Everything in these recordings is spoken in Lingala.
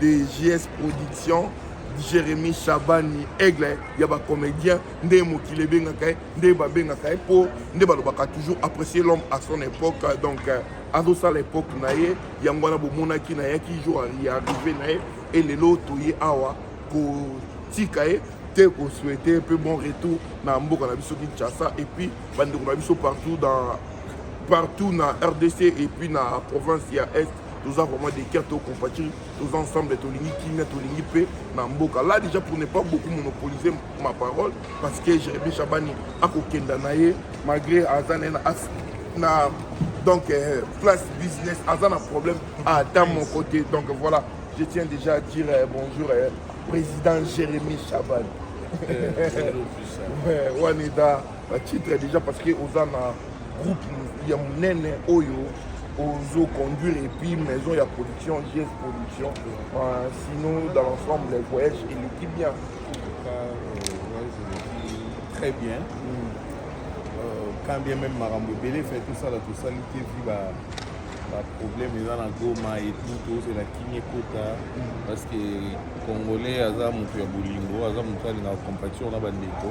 de JS Production Jérémy Chabani Aigle ya ba comédien nde mokili ebengaka ye nde babengaka ye mpo nde balobaka toujours apprécier l'homme à son époque donc euh, azosala époque na ye yango wana bomonaki na yaki jour ya arrivé na ye e lelo toye awa kotika ye te kosouhaite mpe bon retour na mboka na biso kinshasa et puis bandeko na biso partout dans partout na rdc et puis na province ya est toza vraiment des cœurs to compatir toza ensemble tolingi kimia tolingi mpe na mboka là déjà pour ne pas beaucoup monopoliser ma parole parce que jérémi chabani akokenda na ye malgré aza na ye na donc euh, place business aza na problème ata mon côté donc voilà je tiens déjà à dire euh, bonjour euh, président jérémi chabani euh, wana eza ba titre déjà parce que oza na groupe ya munene oyo ozo conduire et puis maison ya production GS production euh, sinon dans l'ensemble les voyages eleki bien euh, très bien mm. euh, quand bien même makambo ebele fait tout ça la tout ça lite vi ba baproblème eza na goma etout tozela kimi ekota parce que congolais aza moto ya bolingo aza moto alingaka compatition na bandeko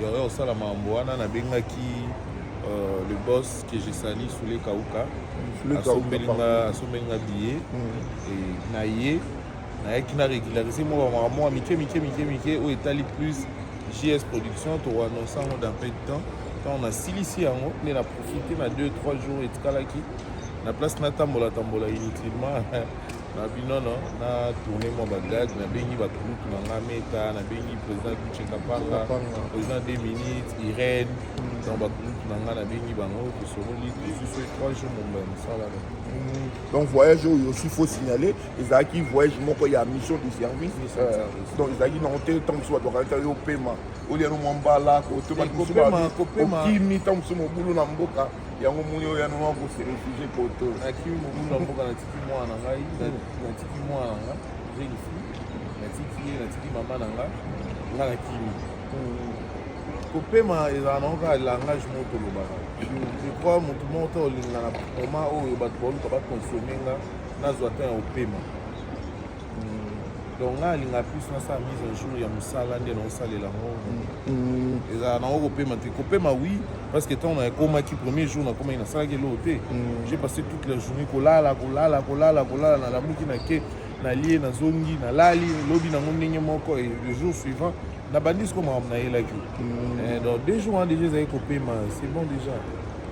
Yo yo sala mambo wana na bengaki euh, le boss que je sali sous les kauka. Sous les kauka. Asombeli nga asombeli nga billet mm. et na ye nayaki na régulariser mwa bamaka mwa mike mike mike mike oyo etali plus js production tokoannonce yango dans peu de temps ntango nasilisi yango nde na profite na 2 3 jours etikalaki na place natambola tambola inutilement na binono na tourne mwa bagage nabengi bagroupe na nga meta nabengi président kuchekapanga président de minutes irène donc bagroupe na nga nabengi bango tosololi tosusu trois jours momba ya mosala mm. donc voyage oyo aussi faut signaler ezalaki voyage moko ya mission de service euh, donc ezalaki nango te ntango mosusu bato bakanisa yo opema olia no mwa mbala kotobaokimi ntango mosusu mobulu na mboka yango moni oyo yango mwa kose refugie poto nakimi mobulu ya mboka natiki mwana na ngai natiki mwana na nga jeune fille natiki ye natiki mama na nga nga nakimi kopema ezala nango kaka langage moko tolobaka je crois motu moko to olingana na moment oyo bato baoluka bakonsome nga nazwa temps ya kopema donc nga alinga plus nasala mise en jour ya mosala nde naosalela yango mm. ezala nango kopema te kopema oui parce que ntango nakomaki premier jour nakomaki nasalaki eloko te mm. j'ai passé toute la journée kolala kolala kolala kolala nalamuki nake nalie nazongi nalali lobi nango ndenge moko et le jour suivant nabandi siko makambo nayelaki mm. eh, donc deux jours wana déjà ezali kopema c'est bon déjà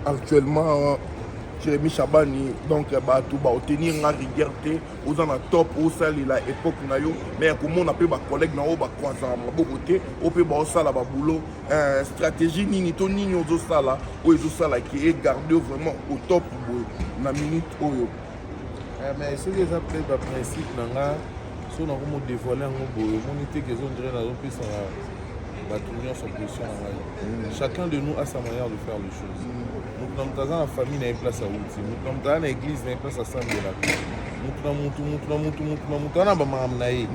actuellement jeremi shabani donc bato baotenir nga rigueur te oza na top osalela epoke na yo me ya komona mpe bacollègue na oyo bakwazaka maboko te oyo mpe baosala baboulot eh, stratégie nini to nini ozosala oyo ezosala ke egarde yo vraiment au top boye na minute oyo eh, mais soki eza mpe baprincipe na nga so nakomo dévoile yango boye omoni te kezo ndire nazopesaka bato nyonso pression na ngai mm. chacun de nous a sa manière de faire les choses mm. moto na moto aza na famille na ye place awuti moto na moto aza na église na ye place asambelaka moto na moto moto na moto moto na moto ana bamakambo na ye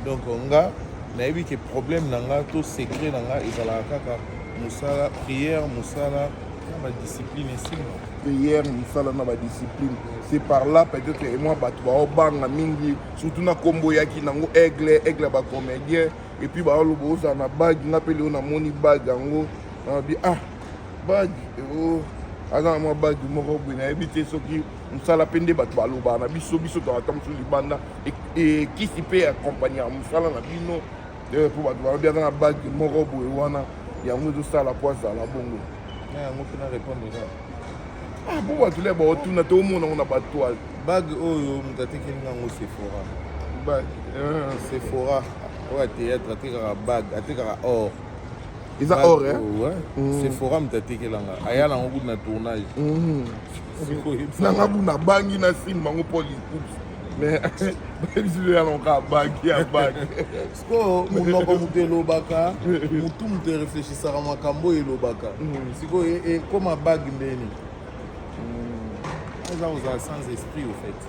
donc nga nayebi ke problème na nga to secret na nga ezalaka kaka mosala prière mosala na badiscipline esimba prière mosala na badiscipline c'est par là peut-être emoi bato baobanga mingi surtout na nkombo yaki nango aigle aigle ya bacomédien epuis baoloba ozala na bague nga mpe leo namoni bague yango nalobi ah bagi oh, aza na mwa bagi moko boye nayebi te soki mosala mpe nde bato balobaka na biso biso toata mosusu libanda ekisi e, mpe ya kompani ya mosala na bino eh, mpo bato balobi aza na bagi moko boye wana yango ezosala mpo azala bongo na yango mpe na repondre kaka ah, mpo bato le baotuna te omona yango na batoile bage oyo moto atekeli nango sephora eh. sephora oyo ateatre atekaka bage atekaka or eza or eh? mm. c'est forum tatekelanga aya nango kutu na tournage mm. nanga kutu nabangi na sine bango paul ikups mais bayebisilo ya lonka abaki abaki sikoyo monoko moto elobaka motu moto ereflechisaka makambo oyo elobaka mm. sikoyo ekoma e, bag ndeni eza kozala sans esprit au fait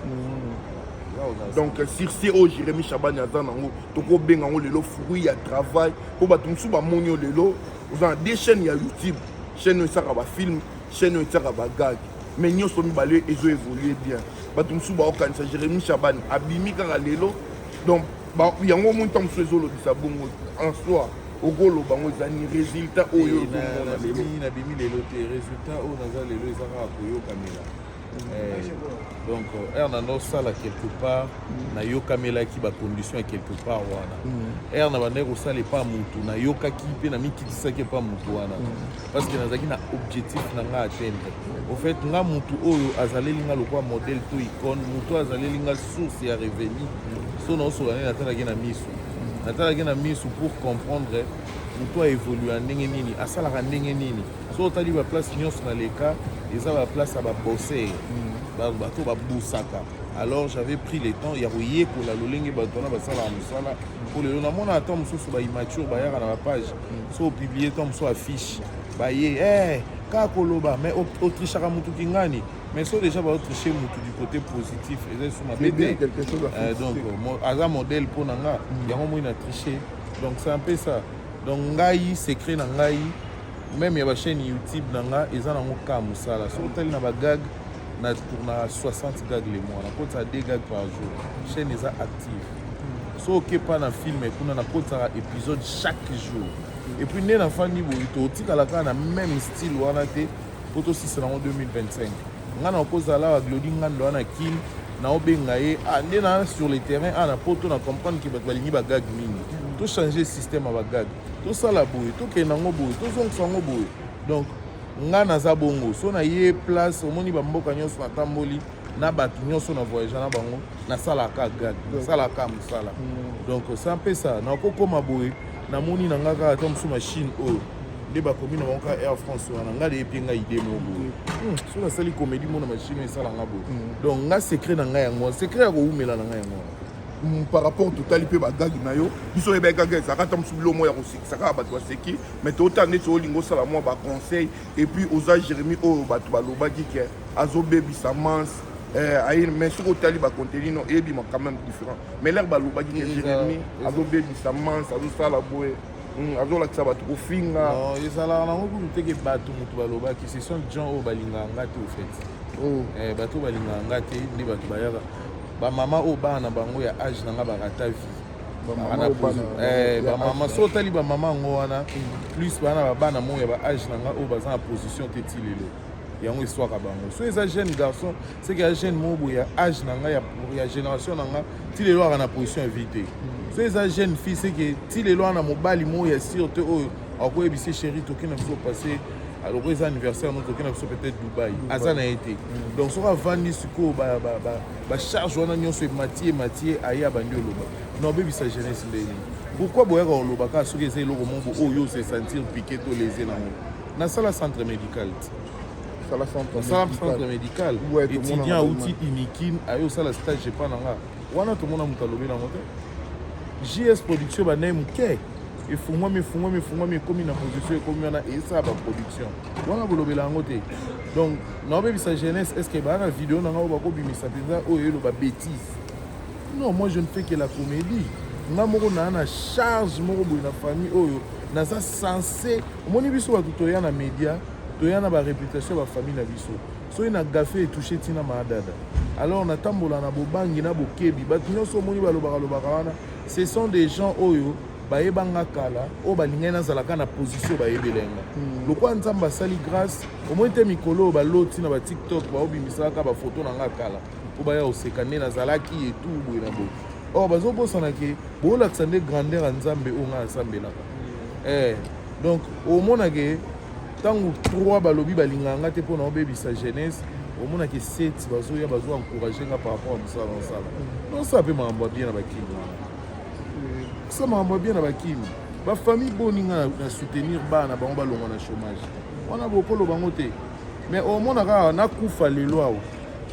donc sur ce oyo jérémi chabani aza nango tokobenga yango lelo fruit ya travail mpo bato mosusu bamoni yo lelo oza na de chaîne ya youtube chaîne oyo esaka bafilme chaîne oyo esaka bagage mais nyonso mibale ezo évolue bien bato mosusu baokanisa jérémi chabane abimi kaka lelo donc yango omoni ntango mosusu ezolobisa bongo en soi okoloba yango eza ni résultat oyo ozomona lelo nabimi lelo te résultat oyo naza lelo eza kaka koyokamela Eh, donc heure na nosala quelque part mm. nayokamelaki bacondition ya quelque part wana heure mm. na bandaki kosala epa motu nayokaki mpe namikitisaki epa motu wana mm. parce que nazalaki na objectif na ngai atteindre au fait nga motu oyo azaleli nga lokola modèle to icone motu azaleli nga source ya revenu so naosola nde natalaki na miso natalaki na miso pour comprendre motu aevolua ndenge nini asalaka ndenge nini soki otali baplace nyonso na leka eza baplace ya babosser mm. bato babusaka alors j'avais pris le temps ya koyekola lolenge bato wana basalaka mosala mpo lelo namona ata mosusu baimature bayaka na bapage mm. so opiblie ntan mosusu affiche baye eh, kaka koloba mais otrishaka motu kingani mais so déjà baotriche motu du côté positif eza esu mabe te euh, donc aza modèle mpo na nga mm. yango moi na triche donc c'est un peu ça donc ngai secret na ngai meme ya ba chaîne youtube na nga eza nango ka mosala soki otali na bagag na tournaka 60 gag le mois nakotisa 2 gag par jour chaîne eza active so okepa na film kuna nakotisaka épisode chaque jour et puis nde nafandi boyi totikala kaka na même style wana te mpo tosisa nango 2025 ngai nakozala awa glodi ngando wana kin naobenga ye ah, nde na sur le terrain awa ah, na poto na comprendre ke bato balingi bagag mingi tochange système ya bagag tosala boye tokende yango boye tozongisa yango boye donc ngai naza bongo so na ye place omoni bamboka nyonso natamboli na bato nyonso na voyage na bango nasalaka gag nasalaka mosala mm. donc sa mpe sa nakokoma boye namoni na ngai kaka ata mosusu machine oyo nde bakomi na bango ka air france wana ngai deyebi ngai ide moko boye hmm, soki nasali komedi mona machine esalanga boye hmm. donc ngai secret na ngai yango secret ya kowumela na ngai yango wana Mm, par rapport totali mpe bagage na yo biso oyeba egage ezalaka ata mosu bilo moko ya kosekisa kaka bato baseki mai tootala neti olingi osala mwa baconseil epuis oza jérémi oyo bato balobaki ke azobebisa manse eh, aye mais soki otali bacontenu no eyebima quand même différent mais lere balobaki ke jérémi azobebisa manse azosala boye mm, azolakisa bato kofinga ezalaka nango kutu teke bato moto balobaki ce sont gens oyo balingaka nga te ofete oh. eh, bato oyo balingaka nga te nde bato bayaka Ba mama oyo bana na bango ya age na nga ba rata vie. Eh, ba mama so otali ba mama yango wana plus bana ba bana mo ya ba age na nga oyo baza na position te ti lelo. yango eswaka bango so eza jeune garçon seke ya jeune moko boye ya age na ngai ya génération na ngai ti lelo aka na position ya vie te mm. so eza jeune fille seke ti lelo ana mobali moko ya sire te oyo akoyebisa chéri toki na biso passe alors eza anniversaire no tokenda biso peut-être dubai aza na ye te mm. donc soki avandi sikoyo bacharge wana nyonso emati emati ye aye abandi oloba na obebisa jeunesse ndenge nini pourkui boyaka koloba kaka soki eza eloko moko oyo ose sentir pike to lese nango nasala centre médical te sala centre médical étudiant auti unikin aye osala stage epa na nga wana tomona moto alobi nango te js production banaye moke efungwami efungwami efungwami ekomi na position ekomi wana esala baproduction wana bolobela yango te donc naobebisa jeunesse est ce que baa na video na ngai bakobimisa mpenza oyo eloba bétise non moi je ne fais que la comédie nga moko naa na charge moko boye na famille oyo naza sense omoni biso bato toya na média toya na bareputation ya bafamille na biso soki na gafe etouche ntina maadada alors natambola na bobangi na bokebi bato nyonso omoni balobaka lobaka wana ce sont des gens oyo bayebanga kala oyo balingaki nazalaka na position bayebelenga hmm. lokola nzambe asali grâce omoni te mikolo oyo baloti na batiktok baobimisalaka bafoto na nga kala mpo baya koseka nde nazalaki etu boye na boye or bazobosana ke boolakisa nde grandeur ya nzambe oyo ngai asambelaka hmm. eh, donc omonake ntango trois balobi balingaka nga te mpo na obebisa jeunesse omonaki seti bazoya bazo encourage nga par rapport ya mosala na osala nosala mpe makambo ya bien na bakimi wana kosala makambo ya bien na bakimi bafamille boni nga na soutenir bana bango balongwa na chômage wana bokolo bango te mais omona kaka nakufa lelo awa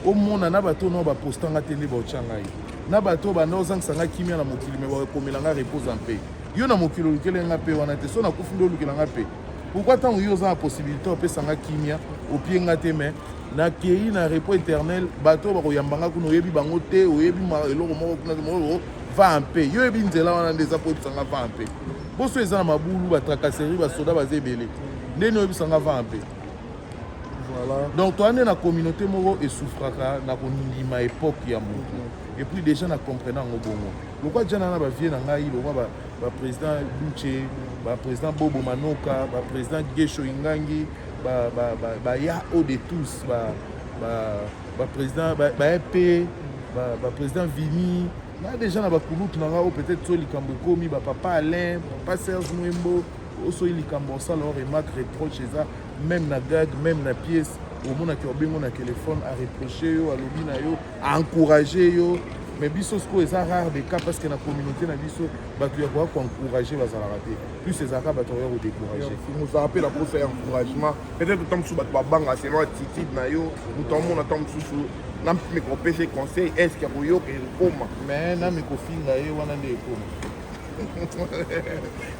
omona na bato nao baposta nga te nde baotya ngai na bato oyo banda ozangisa nga kimia na mokili me bakomela nga repose mpe yo na mokili olukele nga mpe wana te so nakufi nde olukela nga mpe pourkui ntango yo oza na possibilité opesa nga kimia opie nga te mai nakei na repos éternel bato oyo bakoyamba nga kuna oyebi bango te oyebi eloko moko kuna te moko va mpe yo oyebi nzela wana nde eza koyebisa nga va mpe boso eza na mabulu batracasserie basoda baza ebele nde ni oyebisa nga va mpe Voilà. donc toza nde na communauté moko esouffraka na kondima époque ya motu mhm. epuis déjà na comprena yango bongo lokwa jana na bavie na ngai lokwa ba président Luche ba président Bobo Manoka ba président Gesho Ingangi ba ba ba, ba ya haut de tous ba ba ba président ba, ba EP ba, ba président Vini na déjà na bakulutu na ngai peut-être so likambo ekomi ba papa Alain papa Serge Mwembo osoyi likambo osala o remarque reproche eza même na gag même na pièce omonaki obengo na telefone areproche yo alobi na yo a encourager yo mais biso sikoyo eza rare de cas parce que na communauté na biso bato ya koya koencourage bazalaka te plus ezalaka bato ya kodécourage mozala mpe na mposa ya encouragement peut-être ntango mosusu bato babanga selon attitude na yo moto amona ntango mosusu na mikopesa conseil est ce que akoyoka ekoma mais na mikofinga ye wana nde ekoma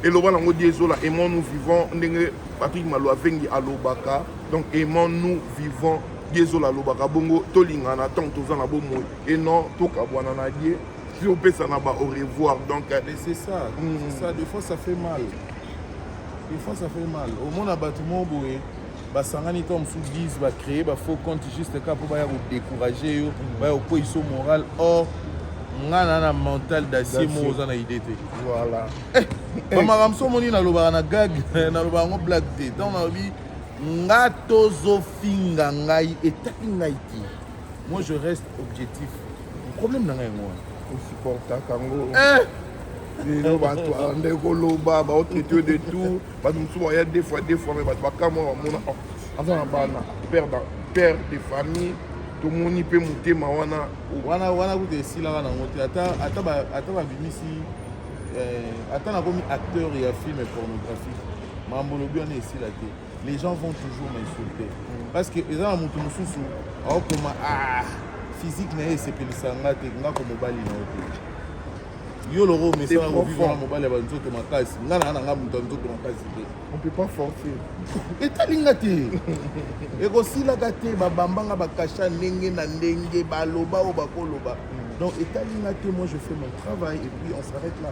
eloba nango di ezola aimant nous vivons ndenge patrik malo avengi alobaka donc aimant nous vivons die zola alobaka bongo tolingana ntango toza na bomoi e non tokabwana na die ti opesana ba au revoir donc euh, mais c'est ça mm. c'est ça des fois ça fait mal des fois ça fait mal omona bato moko boye basangani to mosusu 10 bacree bafaux compte juste ka mpo baya kodécourage yo mm. baya kokweisa moral or ngai na na mental dacier moko oza na idée te voilà bamakambo eh, eh. so omoni nalobaka na gag nalobaka yango blague te ntango nalobi nga tozofinga ngai etali ngai te moi je reste objectif problème na ngai yango wana osupportaka yango eh! lelo bato alanda ekoloba baotraite yo de tout bato mosusu baya deux fois deux fois me bato bakamwa bamona oh, aza na bana père de famille tomoni mpe motema wana wana wana kuta esilaka nango te ata babimisi eh, ata nakomi acteur ya film pornographique mambo olobi wana esila te les gens vont toujours m'insulter mm. parce que eza na moto mosusu aokoma ah, physique na ye esepelisa nga te nga ko mobali na yo te yo loko omesana kovivre na mobali ya banzoto makasi nga na nanga moto ya nzoto makasi te on peut pas forcer etali nga te ekosilaka te babambanga bakasha ndenge na ndenge baloba oyo bakoloba mm. donc etali nga te moi je fais mon travail et puis on s'arrête là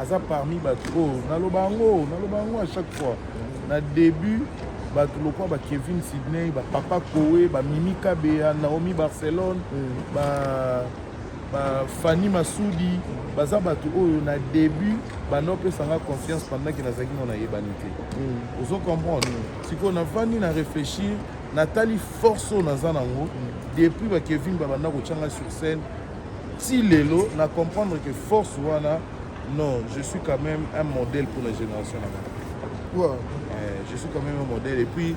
aza parmi bato oyo naloba yango naloba yango à chaque fois na début bato lokola ba kevin sydney ba papa koe ba mimi kabeya naomi barcelone mm. ba bafani masudi baza bato oyo na début banda opesanga confiance pendaki nazalaki ngo nayebani te mm. ozo comprendre mm. sikoyo navandi na réfléchir natali force oyo naza nango mm. depuis bakevin babanda kotyanga sur scène ti lelo na comprendre que force wana non je suis quand même un modèle pour la génération na ngai ouais. eh, je suis quand même un modèle et puis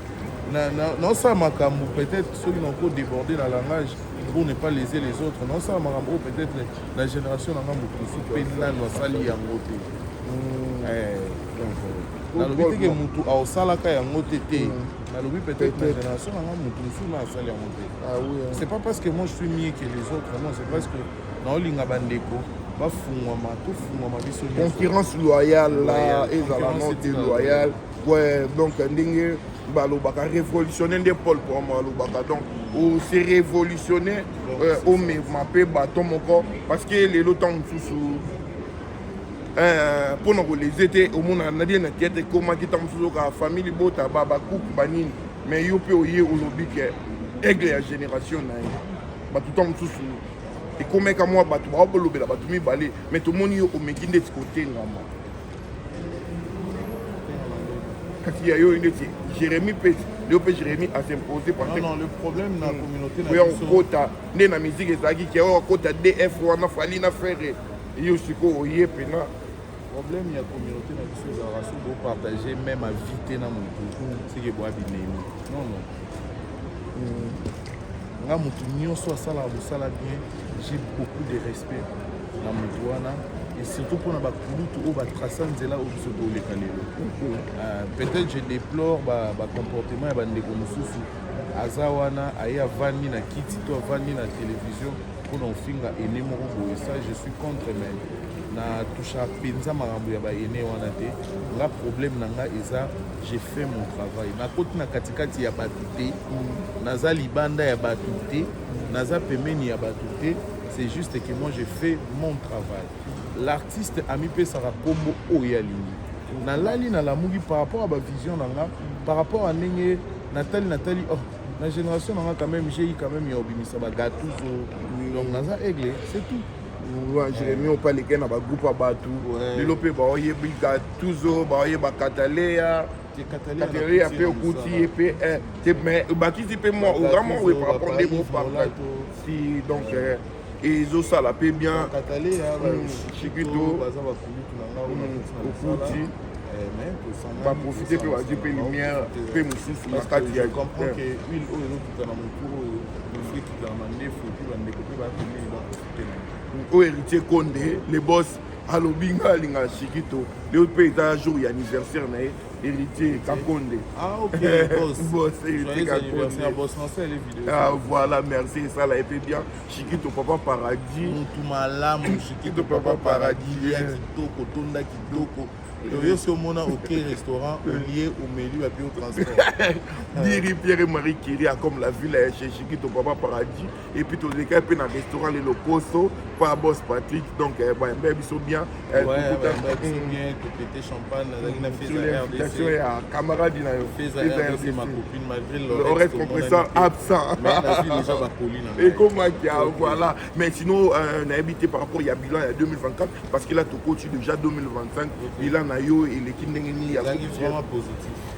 naosala makambo peut-être soki nako déborde na langage pour ne pas léser les autres naosala makambo oyo peut-être na génération na ngai moto mosusu mpe nano asali yango te hmm. eh, donc euh, nalobi teke motu aosalaka yango te te hmm. nalobi peut-être na génération nanga moto mosusu na asali yango te ah hein. c'est pas parce que moi je suis mieux que les autres non c'est parce que naolinga bandeko bafungwama tofungwama biso concurrence loyale la ezala non te loyale ouais donc ndenge balobaka révolutionne nde paul poma alobaka donc ose révolutionne omema mpe baton moko parce que lelo ntango mosusu Eh, mpo na koleze te omona na bie na theatre ekomaki ntango mosusu oka famille libota babakuku banini mais yo mpe oye olobi ke aigle ya génération na ye bato ntango mosusu ekomeka mwa bato bawa bolobela bato mibale mais tomoni yo omeki ndeti kotengama kasi ya yo ndeti jérémi mpe yo mpe jérémi asimpose oya kokota nde na miziki ezalaki ke oya kokota df wana fali na ferre Yo sikoyo oye pena problème ya communauté na biso ezalaka soki bopartage même avis te na motu seke boya binemi non non hmm. nga motu nyonso asalaka mosala bien j'ai beaucoup de respect na motu wana et surtout mpona bakulutu oyo batrasa nzela oyo biso toleka lelo euh, peut-être je déplore bacomportement ba ya bandeko mosusu aza wana aye avandi na kiti to avandi na télévision mpona ofinga ene moko boye sa je suis contre mais na toucha mpenza makambo ya baene wana te nga problème na nga eza je fais mon travail nakoti na katikati ya bato te naza libanda ya bato te naza pembeni ya bato te c'est juste que moi je fais mon travail l'artiste amipesaka nkombo oyo alingi nalali nalamuki par rapport ya bavision na nga par rapport ya ndenge natali natali oh na génération nanga quand même j'ai eu quand même ya obimisa ba gatuzo donc naza aigle c'est tout wa jeremi opaleke na bagroupe ya bato lelo mpe baoyebi gatuzo baoyeba kataleya kataleya mpe okuti ye mpe te mais obakisi mpe mwa oza mwa oye par rapport nde bopartage si donc ezosala mpe bien chikito okuti baprofite mpe bazwi mpe lumière mpe mosusu na kati ya oyo héritier konde le boss alobi nga alingaka chikito leo mpe eza jour ya anniversaire na ye Héritier Kakonde. Ah ok, boss. boss, Héritier Kakonde. Boss, non, c'est les vidéos. Ah voilà, merci, ça l'a été bien. Chikito Papa Paradis. Mutu malamu, Chikito Papa Paradis. Ya kitoko, tonda kitoko. toye soki omona oke restaurant olie omeli bapi o transport diri pierre marie kiria comme la ville ya chechikito papa paradis et puis tolekaki mpe na restaurant le lokoso pa boss patrick donc eh, bayambaki eh, biso bien topete champagne nazalaki na invitation ya camarade na yo oreste compresseur absent ekomaki voilà mais sinon euh, nayebi te par rapport ya bilan ya 2024 parce que là tokoti déjà 2025 bilan na yo eleki ndenge nini ya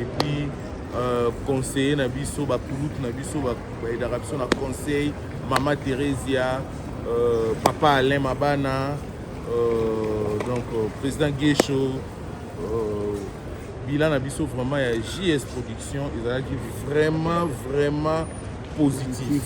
et puis euh, conseiller na biso bakulutu na biso baedaka biso na conseil mama theresia euh, papa alain mabana euh, donc euh, président guesho euh, bilan na biso vraiment ya js production ezalaki vraiment vraiment positif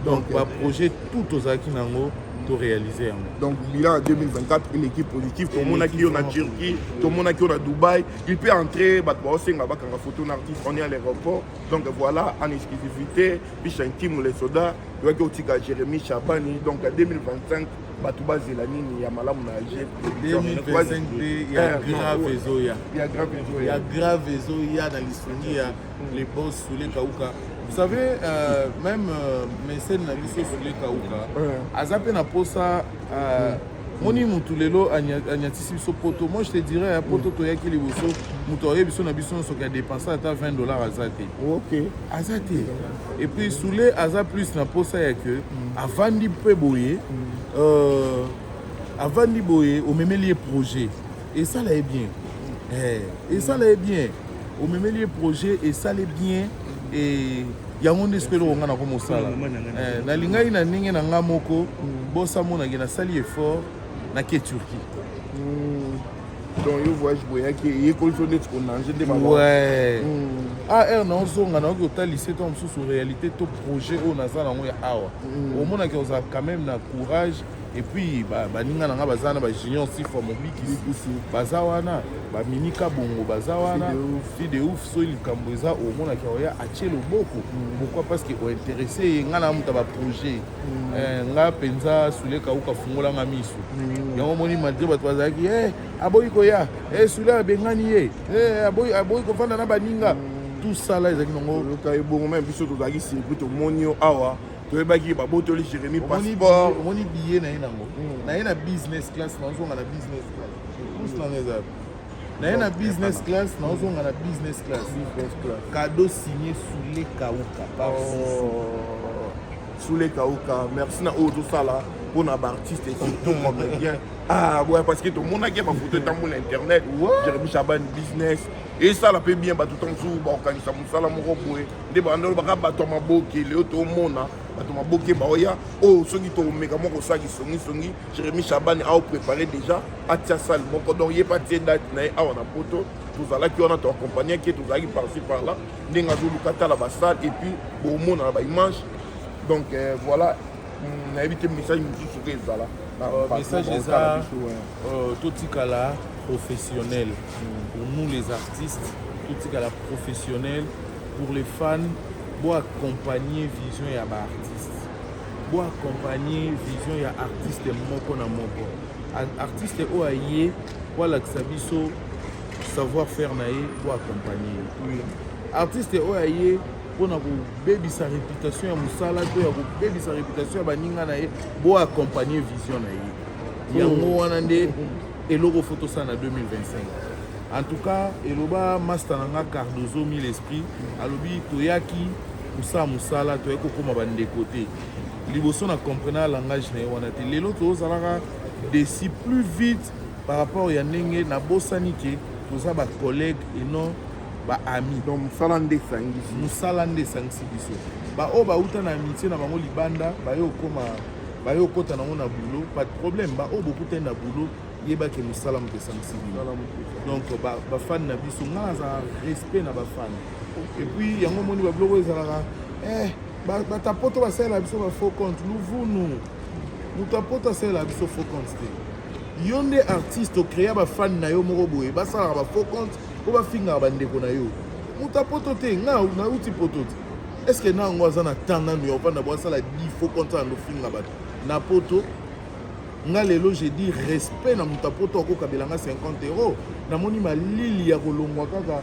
donc okay. baprojet tout tozalaki na yango toréalise yango donc bilan ya 2024 eleki positif tomonaki yo na turquie tomonaki yo na dubai Il peut entrer, bato baosenga bakanga photo na artiste, on est à l'aéroport. Donc voilà, en exclusivité, bicha intime les soda, toyaki otika Jérémy Chabani. Donc à 2025, bato bazela nini ya malamu na alger 2025 mpe ya eh, grave ezoya ya grave ezoya na lisungi ya mm. le bon soule kauka vous savez euh, même euh, mesene na biso soule kauka aza mpe na mposa Ah, moni mutu lelo anyatisi biso poto moi je te dirais ya poto toyaki liboso moto aye biso na biso nyonso ke adepense ata 20 dollars aza te okay. aza te et puis soule aza plus na posa ya ke mm. avandi mpe boye mm. euh, avandi boye omemeli ye projet esala ye bien eh, esala ye bien omemeli ye projet esala ye bien eh, yango nde soki eloko ngai nako mosala eh, nalingaki na ndenge na ngai moko bosa monake nasali effort nake turquie hmm. donc yo voyage boyaki eyekolisi yo ndeti konange nde ouais. Hmm. ar ah, na ozonga nayoki otalisi ntango mosusu réalité to projet oyo naza na yango ya awa hmm. omonaki ozala quand même na courage et puis baninga na nga baza wana bajunior sifa mobikisi baza wana baminika bongo baza wana fi de ouf soki likambo eza omonaki oya atie loboko mm. pourquoi parce que ointeresse ye ngai na moto baprojet mm. eh, nga mpenza sule kauka fungola nga miso mm. yango omoni malgre bato bazalaki eh, aboyi koya eh, sule abengani ye aboyi kofanda na baninga tout ça la ezalaki nango ebongo me biso tozalaki sirkui tomoni yo awa toyebaki babotoli jérémi passeport omoni biye na ye nango hmm. na ye na business class nazonga na business class plus nanga eza naye na business class naozonga na business class kado signe sule kauka oh. sule kauka merci na oyo tosala mpo na baartiste surtout comédien ah ouais parce que tomonaki bafoto etambola internet jeremi chaban business esala mpe bien bato ntango mosusu baorganisa mosala moko boye nde banda olobaka bato ya maboke leo tomona bato maboke baoya oyo oh, soki tokomeka mwa kosala kisongisongi jérémi chabani aoprépare déjà atia sale moko donc ye mpe atie date na ye awa na poto tozalaki wana toakompagne ke tozalaki parci par là ndenge azoluka tala basale et puis bomona na baimage donc euh, voilà hmm, nayebi te message mosusu soki ezala euh, message eza euh, totikala professionnel pour nous les artistes totikala professionnel pour les fans boaccompagne vision ya baartiste boaccompagne vision ya artiste moko na moko artiste oyo aye boalakisa biso savoir faire na ye boaccompagne ye artiste oyo aye mpo na kobebisa réputation ya mosala to ya kobebisa réputation ya baninga na ye boaccompagne vision na ye yango wana nde eloko fo tosala na 2025 en tout cas eloba master na nga cardozo mille esprit alobi toyaki kosala mosala toyaki kokóma bandeko te liboso na comprena langage na ye wana te lelo tozalaka desi plus vite par rapport ya ndenge nabosani ke toza bacollègue et non baami donc mosala nde esangisi mosala nde esangisi biso baoyo bauta na amitie na bango libanda baye okoma baye okota nango na boulot pas de problème baoyo bokutani na boulot yeba ke mosala moto esangisi bino donc bafani na biso ngai nazala respect na bafani epuis yango omoni babiloko ezalaka eh, bata poto basalela biso ba faux compte luvunu moto apoto asalela biso faux compte te yo nde artiste okrea bafani na yo moko boye basalaka ba faux compte mpo bafingaka bandeko na yo moto apoto te ngai nauti poto te est ce que na yango aza na temps nanu ya ovanda bo asala difo konta yango finga bato na poto nga lelo je dis respect na moto ya poto akokabela nga 50 euro namoni malili ya kolongwa kaka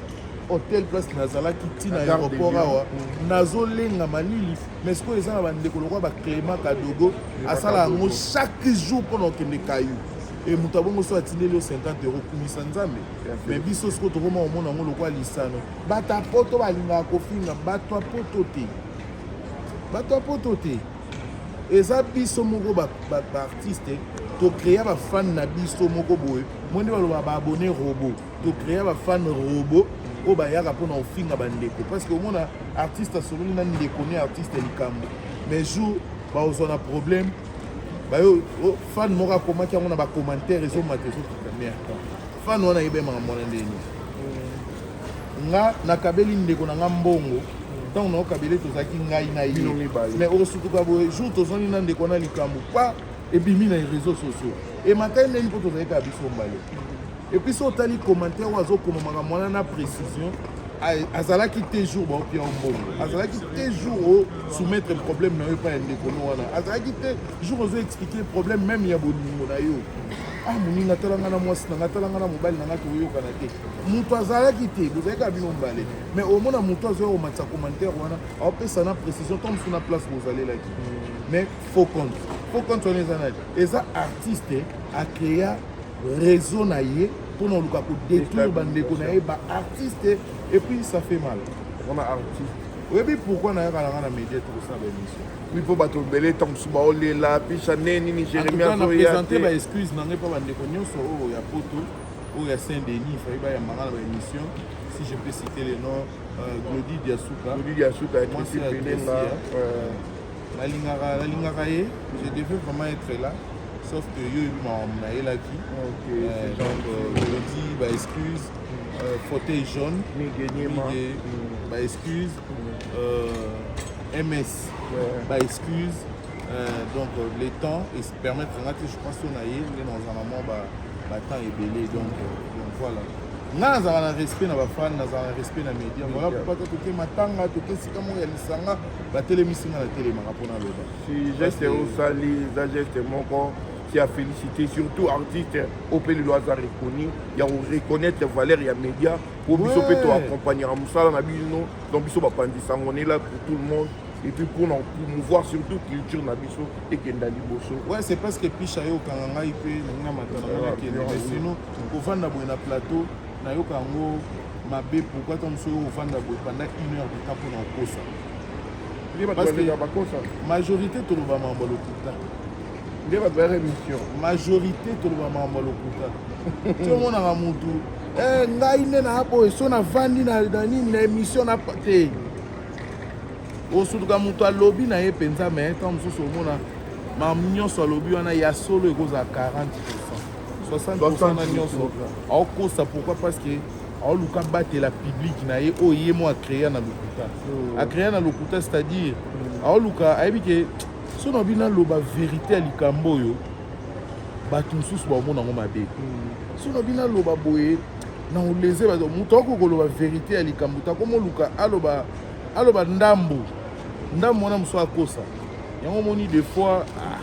hotel place nazalaki ntina ya aéroport awa mm. nazolenga malili mais sikoyo eza na bandeko lokola bacléma kadogo asala yango chaque jour mpo na okende kayu e moto abongo so atindeli yo 50 euro kumisa nzambe mais biso sikoyo tokoma komona yango lokola lisano bato ya poto balingaka kofinga bato ya poto te bato ya poto te eza biso moko baartiste ba, ba tokrea bafane na biso moko boye moi nde baloba baabone robo tokrea bafane robo oyo bayaka mpona kofinga bandeko parce que omona artiste asololi na ndeko ne artiste likambo mais jour baozwa na problème bayo oh, fan moko akomaki yango na bacommentaire ezomata ezokita merde fan wana yebemaka mwana ndeni nga nakabeli ndeko na nga mbongo ntango na okabele tozalaki ngai na ye mais okosutuka boye jour tozongi na ndeko na likambo pa ebimi na réseaux sociaux emakai ndenge mpo tozalaki kaka biso mbale epuis so otali commentaire oyo azokoma makambo wana na précision azalaki te jour baopia yo mbongo azalaki te jour osoumettre problème na yo epai ya ndeko no wana azalaki te jour ozo expliquer problème même ya bolingo na yo ah moninga talanga na mwasi na nga talanga na mobali na nga tokoyokana te moto azalaki te bozalaki ya bino mbale mais omona moto azoya komatisa commentaire wana aopesa na précision ntango mosusu na place bozalelaki mais faux compte faux compte wana eza nani eza artiste acrea réseau na ye mpo na oluka kodétruire bandeko na ye baartiste et puis ça fait mal wana artiste oyebi pourkui nayaka nanga na média tokosala baémission oui mpo bato ebele ntango mosusu baolela pisha nde nini jérémi azoya te baexcuse na ngai mpo bandeko nyonso oyo ya poto oyo ya saint denis fayi bayamba nga na baémission si je peux citer le nom euh, glodi diasuka glodi diasuka mwasi ya pelenga nalingaka nalingaka ye je devais vraiment être là sauf que yo ebi makambo nayelaki euh, donc glodi euh, baexcuse euh, fauteuil jaune mm. baexcuse ms baexcuse donc le temps est permettre nga te je pense to na ye nde nazala mwa batemps ebele donc donc voilà nga nazala na respect na bafane nazala na respect na média voilà pourquoi te toke matanga toke esika moko ya lisanga batelemisi nga na telemaka mpo naloba si geste osali eza geste moko merci à féliciter surtout artiste opelelo aza reconnu ya koreconnaitre valeur ya média mpo biso mpe toaccompagnaka mosala na bino donc biso bapanzi sango nela pour tout le monde et puis pour na promouvoir surtout culture na biso ekenda liboso ouais c'est parce que pisha yo okanga ngai mpe nalinga matala ngai nakende mais sinon kovanda boye na plateau nayoka yango mabe pourquoi ta mosusu oyo ovanda boye pendant une heure de temps mpo na kokosa parce que majorité toloba mambo lokuta nde bato bayaka émission majorité toloba mambo lokuta ti omonaka motu eh, ngai nde na boye so navandi na nini na émission na te osutuka moto alobi na ye mpenza me ntango mosusu omona mamu nyonso alobi wana ya solo ekozala 40 60 na nyonso aokosa pourquoi parce que aoluka abatela publike na ye oyo ye mo acrea na lokuta oh. acrea na lokuta c'est-à-dire mm. aoluka ayebi ke so na bino aloba verité ya likambo oyo bato mosusu baomona yango mabe mm. so na bino aloba boye na oleze bato moto akoki koloba verite ya likambo te akomoluka aloba aloba ndambo ndambo wana mosusu akosa yango omoni des fois ah,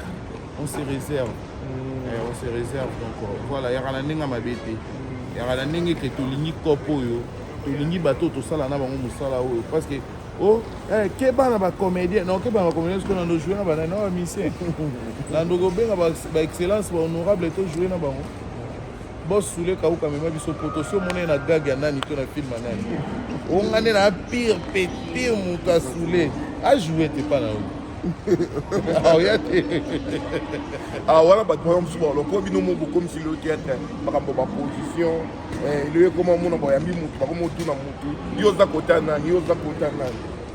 on se réserve mm. eh, on se réserve donc euh, voilà yaka na ndenge ya mabe te mm. yaka na ndenge ke tolingi cope oyo tolingi bato tosala na bango mosala oyo parce que oh eh, keba na bacomédien non keba na bacomédien soki nando joue na banani na bamisien nando kobenga baexcellence bahonorable to joue na bango Boss Soule Kauka mema biso poto si omona ye na gag ya nani to na film ya nani onga nde na pire pe pire moto ya Soule ajoue te mpa na yo aoya te ah, wana bato baya mosusu baloko bino mo bokomisi lelo teatre makambo baposition eh, lelo ekoma omona boyambi motu bakomotuna motu yo oza kota nani yo oza kota nani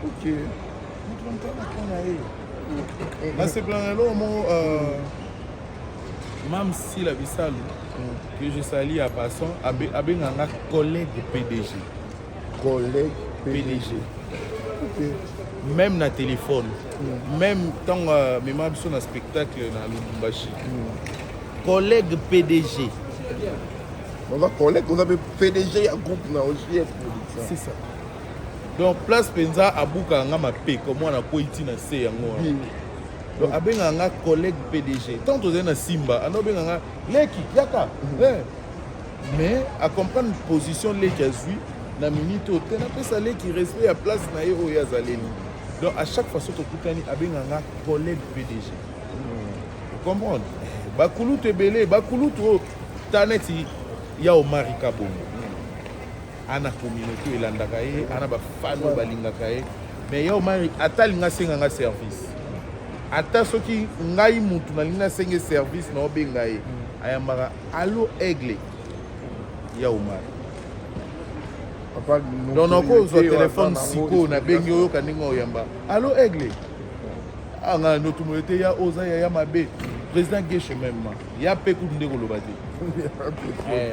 Okay. nasepela na eloko moko euh, mam sila bisalu mm. que je sali ya passant abenga nga collègue pdg collègue pdg okay. même na téléphone mm. même ntango euh, mema biso na spectacle na lubumbashi mm. collègue pdg oza collègue oza mpe pdg ya groupe na ogs c'est ça donc place mpenza abukaka nga mapeko mwana akwei ti na se yango wana hmm. donc abengaka nga collègue pdg ntango tozali na simba anda obenga nga leki yaka hmm. eh. mais acomprendre position leki azwi na minute oyo te napesa leki respect ya place na ye oyo azaleli donc à chaque fois soki tokutani abengaka nga collègue pdg hmm. comprendre bakulutu ebele bakulutu oyo taneti ya omari kabongo ana communauté elandaka ye ana bafani oyo balingaka ye mais ya omari ata alinga asenga nga service ata soki ngai mutu nalingi nasenge service na obenga ye mm. ayambaka alo aigle ya omari donc nakozwa telefone sikoyo nabengi oyoka ndenge oyamba alo aigle anga ah, notumolo te ya oza yaya mabe président geshe meme ya mpe kutu nde koloba te eh.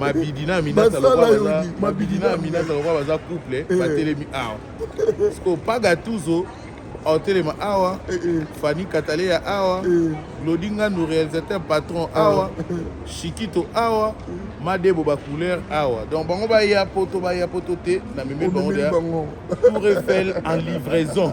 mabidi na aminata lokola mabidi na aminata lokola baza couple eh. batelemi awa siko paga tuzo otelema awa eh, eh. fani kataleya awa glodi nganu réalisateur patron ah. awa shikito awa madebo bacouleur awa donc bango baya poto baya poto te na meme bango deya tour eiffel en livraison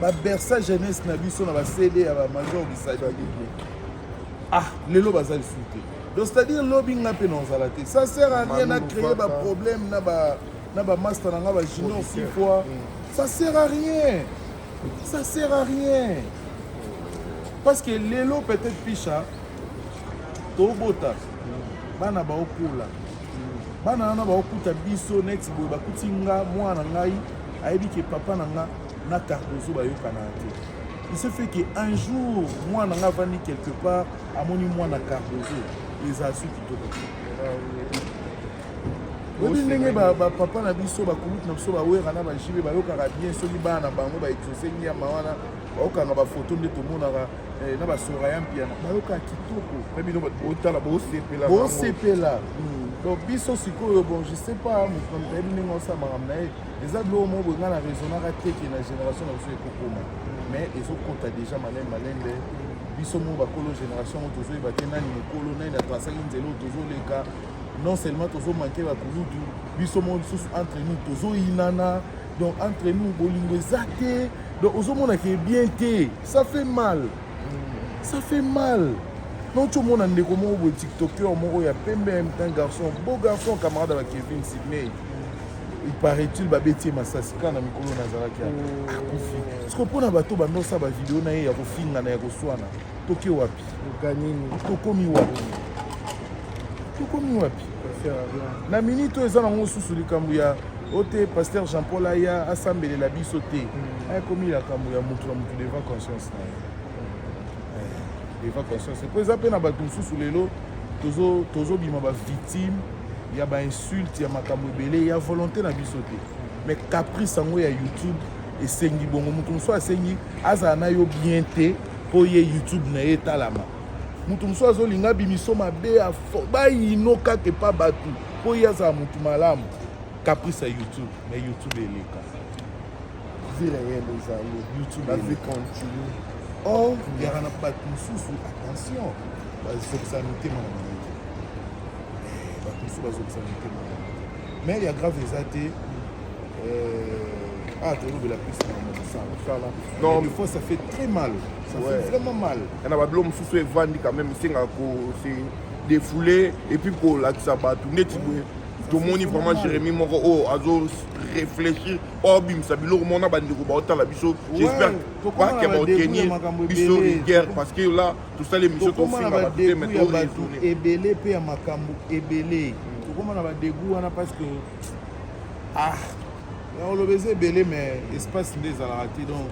babersa jeunesse na biso na bacd ya bamajor bisaidi ah lelo baza lisusu te donc c'est-à-dire lobi nga mpe nazala te ça sert à rien na créer baproblème na ba na bamasta na nga bajunior six fois mm. ça sert à rien ça sert à rien parce que lelo peut-être picha tobota mm. bana baokola mm. bana wana baokuta biso next boye bakuti nga mwana ngai ayebi ke papa na nga na cardozo bayokanaka te il se fait que un jour mwana nga avandi quelque part amoni mwana cardozo eza su kitoko oyebi ndenge bapapa na biso bakulutu na biso bawera na bajibe bayokaka bien soki bana na bango baexose nyama wana baokanga bafoto nde tomonaka eh, na basora ya mpiana bayokaka kitoko bino botala bosepela bosepela hmm. donc biso sikoyo bon je sais pas moto ayebi ndenge osala makambo na ye eza biloko moko boye ngai na raisonnaka te ke na génération na biso ekokoma mais ezokota déjà malembe malembe biso moko bakolo génération yango tozoyeba te nani mokolo nani atrasaki nzela oyo tozoleka non seulement tozomanke bakulutu biso moko lisusu entre nous tozoyinana donc entre nous bolingo eza te donc ozomona ke bien te ça fait mal ça fait mal non comona ndeko moko boye tiktoker moko ya pembe un garçon beau garçon camarade ya bakevin sydney paraît-il babeti ye masasi kaka na mikolo nazalaki oh. akufi siko mpo na bato bandosa bavideo na ye ya kofingana ya koswana toke wapi tokomi wapi tokomi wapi na minute oyo eza nango susu likambo ya o te paster jean paul aya asambelela biso te hmm. akomi likambo ya motu na motu devant conscience na ye eh, devant conscience mpo eza mpe na bato mosusu lelo tozobima bavictime ya ba insulte ya makambo ebele ya volonté na biso te mais caprice yango ya youtube esengi bongo moto mosusu asengi azala na yo bien te mpo ye youtube na ye etalama moto mosusu azolinga bimiso mabe bayino kaka epa bato mpo ye azala moto malamu caprice ya youtube na youtube eleka vie réel ezali youtube la vie continue or yaka na bato mosusu attention bazokisa mitema na bango bato mosusu bazokisa mitema mais ya grave eza te euh, ah tolobela plus na mosala non des fois ça fait très mal ça ouais. fait vraiment mal na babilo mosusu evandi quand même esengaka ko se défouler et puis kolakisa bato neti boye tomoni vraiment jérémi moko oyo azo réfléchir oyo abimisa biloko mona bandeko baotala biso j'espère bakeba otenir biso rigueur parce que là tosali emission tokoma na badegu ya bato ebele mpe ya makambo ebele tokoma na badegu wana parce que ah ya oloba eza ebele mais espace nde ezalaka te donc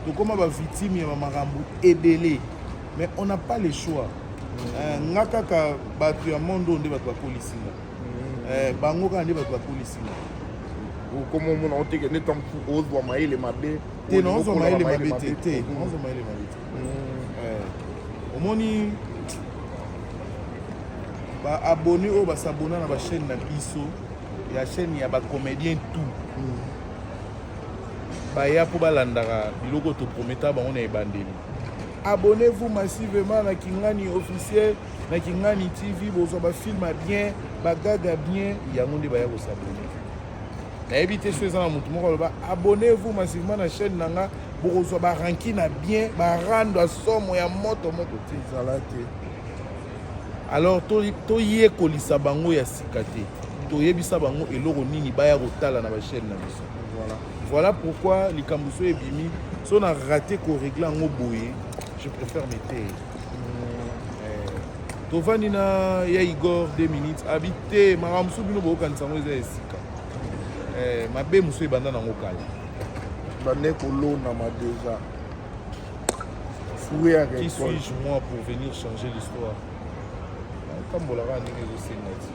tokoma bavictime ya bamakambo ebele mais on n'a pas le choix eh, nga kaka bato ya monde oyo nde bato bakolisi nga mm. eh, bango kaka nde bato bakolisi nga okoma omona oteke nde tanku ozwa mayele mabe te na ozwa mayele mabe te te ozwa mayele mabe te Eh, omoni ba abonné oyo basabona na bachaîne na biso ya chaîne ya bacomédien tout mm. baya mpo balandaka biloko toprometa bango na ebandeli abonnez-vous massivement na kingani officiel na kingani tv bozwa bafilme bien bagaga bien yango nde baya kosabone nayebi te so eza na moto moko aloba abonnez-vous massivement na chaîne na nga bokozwa baranki na bien barando ya somo ya moto moto te ezala te alors toyekolisa to bango ya sika te toyebisa bango eloko nini baya kotala na bachaine na biso voilà, voilà pourquoi likambo so ebimi so na rate koregle yango boye je préfère meteye tovandi na ya igor 2 minutes abi te makambo mosusu bino bokokanisa yango eza ya esika eh, mabe mosusu ebanda nango kala bande kolonama deja fouye ya qui suis-je moi pour venir changer l'histoire natambolaka ndenge ezosenga ti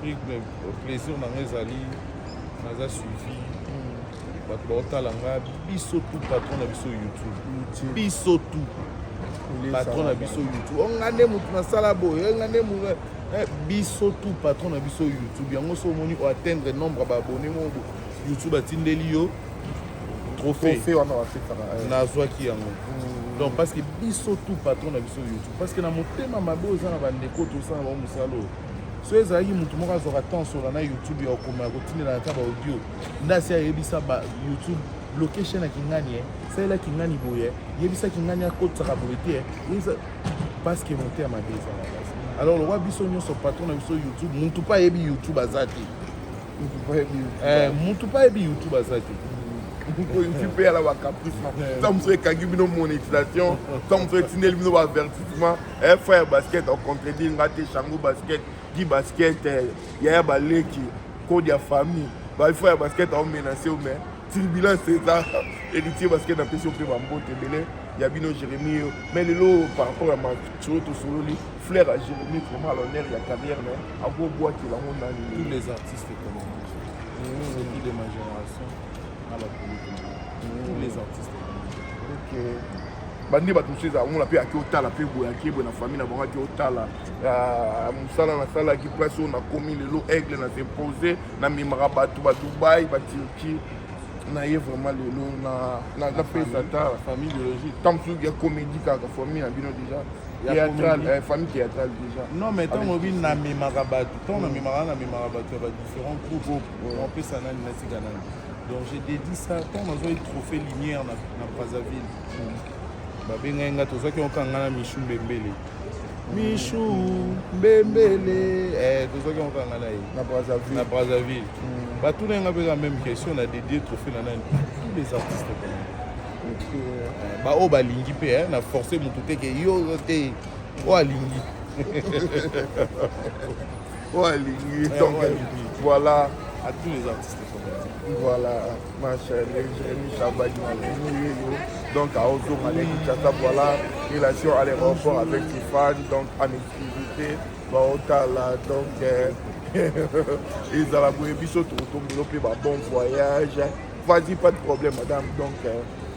prix plaisir na nga ezali naza suivi bato baotala nga biso tu patron na biso youtube biso tu patron na biso youtube onga nde motu nasala boye onga nde motu biso tu patron na biso youtube yango so omoni oatteindre nombre ya baabone moko YouTube atindeli yo trophée trophée wana bapesaka eh. nazwaki yango Mm. donc parce que biso tout patron na biso youtube parce que na motema mabe oza na bandeko tosala bango mosala oyo so ezalaki motu moko azwaka temps sola na youtube ya kokoma ya kotindela ata baaudio nde asi ayebisa ba youtube location ya kingani eh, salela kingani boye eh, yebisa kingani akotisaka boye te eh, yebisa parce que motema mabe eza na basi alors lokwa biso nyonso patron na biso youtube motu mpe ayebi youtube aza te eh, mutu pa yebi youtube aza te ntipe ya na bacaprice ntango mosusu ekangi bino monétisation ntango mosusu etindeli bino baavertissement eh, frère basket ocontredire nga te chango basket gi basket eh, yaya baleki code ya famille bafrère basket aomenase yo mais turbulence eza héritier basket napesi yo mpe bambote ebele ya bino jérémi yo mais lelo par rapport ya maturo tosololi Fleur à Jérémie vraiment à l'honneur ya carrière mais ako boîte la ngo nani tous les artistes comme mmh. c'est qui de ma génération na ba politique mmh. tous les artistes OK bandi bato mosusu ezala ngona mpe ake otala mpe boye ake boye na famille na bango ake otala ah, mosala nasalaki place oyo nakomi lelo aigle na s'impose na mimaka bato ba dubai ba turquie naye vraiment lelo napesa ta famille biologique ntango mosusu ya comédie kaka famille na bino déjà eh, famille théâtrale déjà non mais ntango obi namemaka bato ntango namemaka namemaka bato ya badifférent groupe opesa nani natika nani donc je dédie ça ntango nazwaki trophée lumière na brazzaville babengaki nga tozwaki oka nga na michu mbembele michu mbembele eh, tozwaki oka nga na ye na brazzaville mm. batuna nga mpeka même question na dédie trophée na nani tous les artistes eh, baoyo balingi mpe eh, na force motu te ke yo te oyo alingi oyo alingi eh, donc voilà à tous les artistes voilà Ma chérie, Jérémy Chabaye m'a venu donc à Ozoma les Kinshasa, voilà, relation à l'aéroport avec Tiffany, donc en exclusivité, Baotala, donc euh, ezala boye biso tokotombolo mpe ba bon voyage vas-y pas de problème madame donc euh,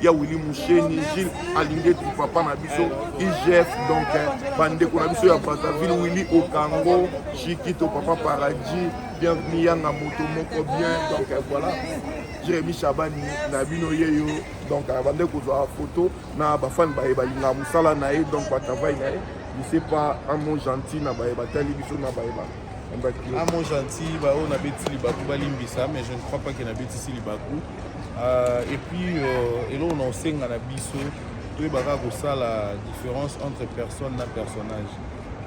ya Willy Musheni Gilles Alingeti papa na biso IGF donc eh, bandeko na biso ya Brazzaville Willy Okango Chikito papa Paradis bienvenue yanga moto moko bien donc eh, voilà Jérémy Chabani na bino yeyo donc eh, bande kozwa photo na bafani baye balinga mosala na ye donc batravai na ye je sais pas un mot gentil na baye batali biso na baye ba un mot gentil baoyo nabetisi libaku balimbisa mais je ne crois pas ke nabetisi libaku Euh, et puis euh, eloko na osenga na biso toyeba kaka kosala différence entre personne na personnage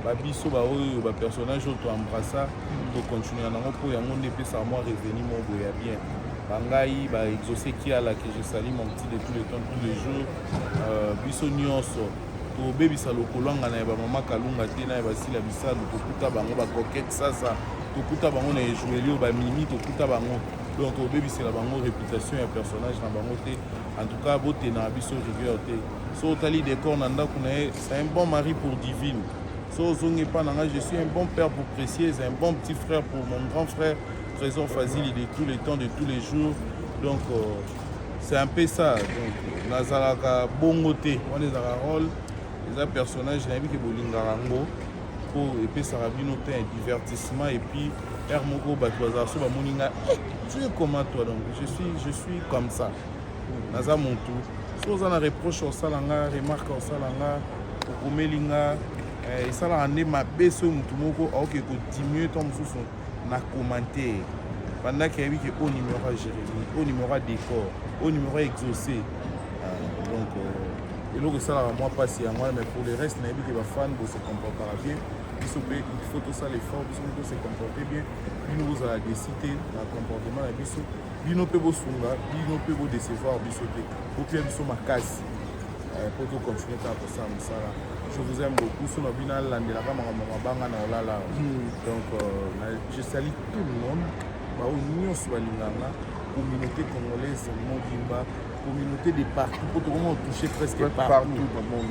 babiso baoyo bapersonnage oyo toembrassa tocontinua nango mpo yango nde epesaka mwa revenu moko boye ya bien bangai baexauce kiala que je sali mon petit de tous les temps tous les jours euh, biso nyonso tobebisa lokolangana ya bamama kalunga te na ya basila bisalu tokuta bango bacoquete sasa tokuta bango na ejueli oyo bamimi tokuta bango donc obebisela bango réputation ya personnage na bango te en tout cas botena biso rigueur te so otali décor na ndako na ye c'est un bon mari pour divine so ozongi epai na ngai je suis un bon père pour précieuse un bon petit frère pour mon grand frère trésor fazili de tous les temps de tous les jours donc euh, c'est un peu ça donc nazalaka bongo te wana ezalaka role eza personnage nayebi ke bolingaka yango po epesaka bino mpe un divertissement et puis heure moko bato bazala so bamoni nga eh, tu es comment toi donc je suis, je suis comme ça naza motu so oza na reproche osala nga remarque osala nga okomeli nga eh, esalaka nde mabe soki motu moko aoke kodiminue to mosusu na commentaire banda ki ayebi ke o numéro ya jérémie o numéro ya décor o numéro ya exaucé euh, donc euh, eloko esalaka mwa mpasi yango wana mais pour le reste nayebi ke bafane bose comportaka bien biso mpe il faut tosala effort biso mpe tose comporte bien bino bozala desi te na comportement na biso bino mpe bosunga bino mpe bodecevoir biso te bopia biso makasi eh, po to continue kaka kosala mosala je vous aime beaucoup so na bino alandelaka makambo mabanga na olala hmm. donc euh, je sali tout le monde baoyo nyonso balinganga communauté congolaise mobimba communauté de partout po tokoma otouche presque partout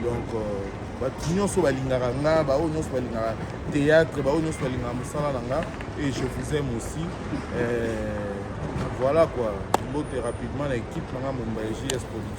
donc euh, bato nyonso balingaka nga baoyo nyonso balingaka théâtre baoyo nyonso balingaka mosala na nga et je vous aime aussi euh, voilà quoi mbote rapidement na équipe na nga mombaye js production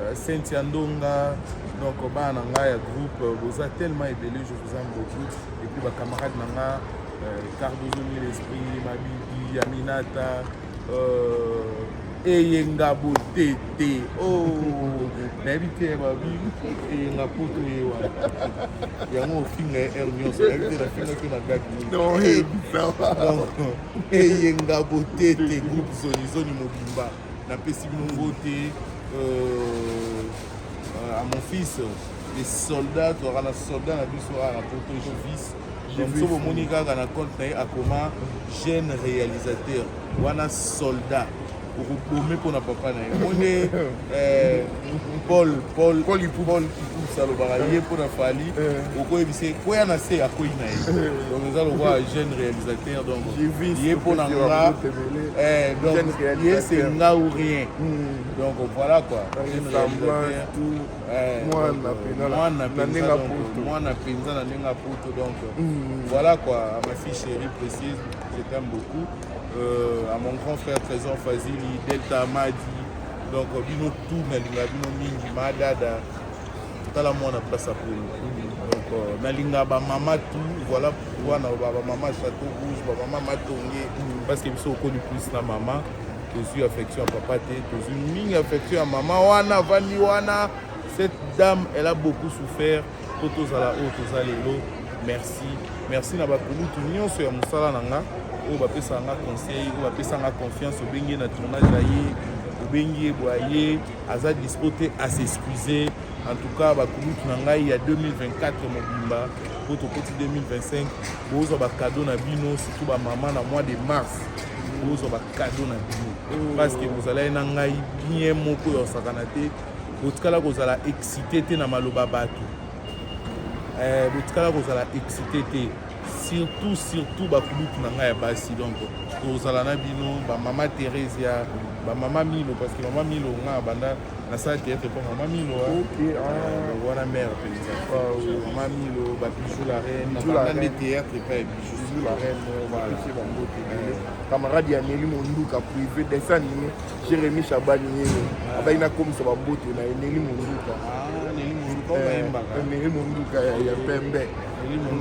Euh, Cynthia Ndonga, donc bana na ngai ya groupe euh, boza tellement ebele je vous aime beaucoup et puis bacamarade na nga euh, cardozo mille esprit mabidi aminata eyenga botete o oh, nayebi te ya babili eyenga poto ye wana yango ofinga ye heure nyonso nayebi te nafingaki na gaki eyenga botete groupe zonizoni mobimba napesi bongo te euh, euh, à mon fils les soldats tozalaka na soldat na biso awa na poto jovis donc so bomoni kaka na compte na ye akoma jeune réalisateur wana soldat okobome mpo na papa na ye mone Paul Paul Paul Ipu Paul Ipu salobaka ye mpo na Fally eh. okoyebisa ye koya na se akwei na ye eh. donc eza lokola jeune réalisateur donc ye mpo na nga eh, donc ye c'est nga ou rien hmm. donc voilà quoi mwana mpenza na ndenge apoto donc hmm. voilà quoi à ma fille chérie précise je t'aime beaucoup euh, à mon grand frère Trésor Fazili Delta Madi donc bino tout nalinga bino mingi madada tala mwana place aponi donc euh, nalinga bamama tout voilà pourquoi na bamama château rouge bamama matonge parce que biso okoni plus na mama tozwi affection ya papa te tozwi mingi affection ya mama wana avandi wana cette dame elle a beaucoup souffert mpo tozala oyo toza lelo merci merci na bakulutu nyonso ya mosala na nga oyo bapesaka nga conseil oyo bapesa nga confiance obengi na tournage ya ye obengi ye bwa ye aza dispo te asexcuse en tout cas bakulutu na ngai ya 2024 mobimba mpo tokoti 2025 bozwa bakado na bino surtout bamama na mois de mars bozwa bakado na bino parce que bozalaki na ngai bien moko ya osakana te botikala kozala excité te na maloba bato eh, botikala kozala excité te surtout surtout bakulutu na ngai ya basi donc tozala na bino bamama theresia bamama milo parce que mama milo nga abanda nasala théâtre mpo mama milo wana mare mpenza mama milo babijou la reine abanda nde théâtre epa ya bijou la reine camarade ya neli monduka privé desanime Jérémy Shabani yeye abaki nakomisa bamboto na ye Neli Monduka Neli Monduka ya pembe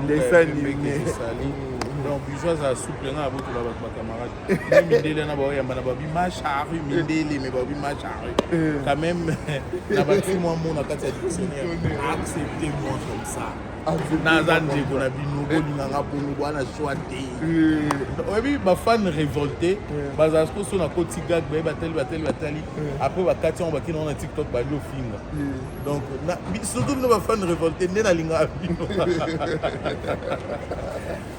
ndesanine donc biso azala souple ngai abotola bato bacamarade me mindele na baoyamba na babi macharu mindele me babi macharu quand même na bati mwa mot na kati ya dictionnaire accepte moi comme ça naza ndeko na bino bolinganga bongo bwana swa te eh. oyebi bafane révolte eh. bazala siko so na koti gag baye batali batali batali eh. après bakati yango bakina wana tiktok bali ofinga donc surtout bino bafane révolte nde nalingaka bino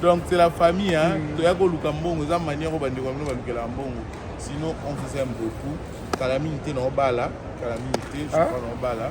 donc c'est la famille hein mm. toya koluka mbongo eza manière oyo bandeko ya bino balukelaka mbongo sinon on vous aime beaucoup kala mingi te na obala kala mingi te je crois ah. na obala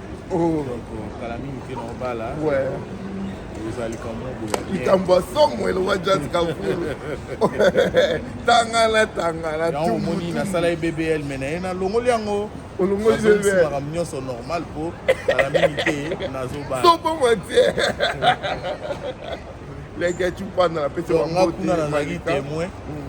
Oh. kala mingi te na obala eza likambo likambo ya somo eloba jaz kafulu tangana tangana yango omoni nasala ye bbl me na ye nalongoli yango olongolimakambo nyonso normal mpo kala mingi te nazobala sobomo te leke cupanda napesi yango kuna nazalaki témoin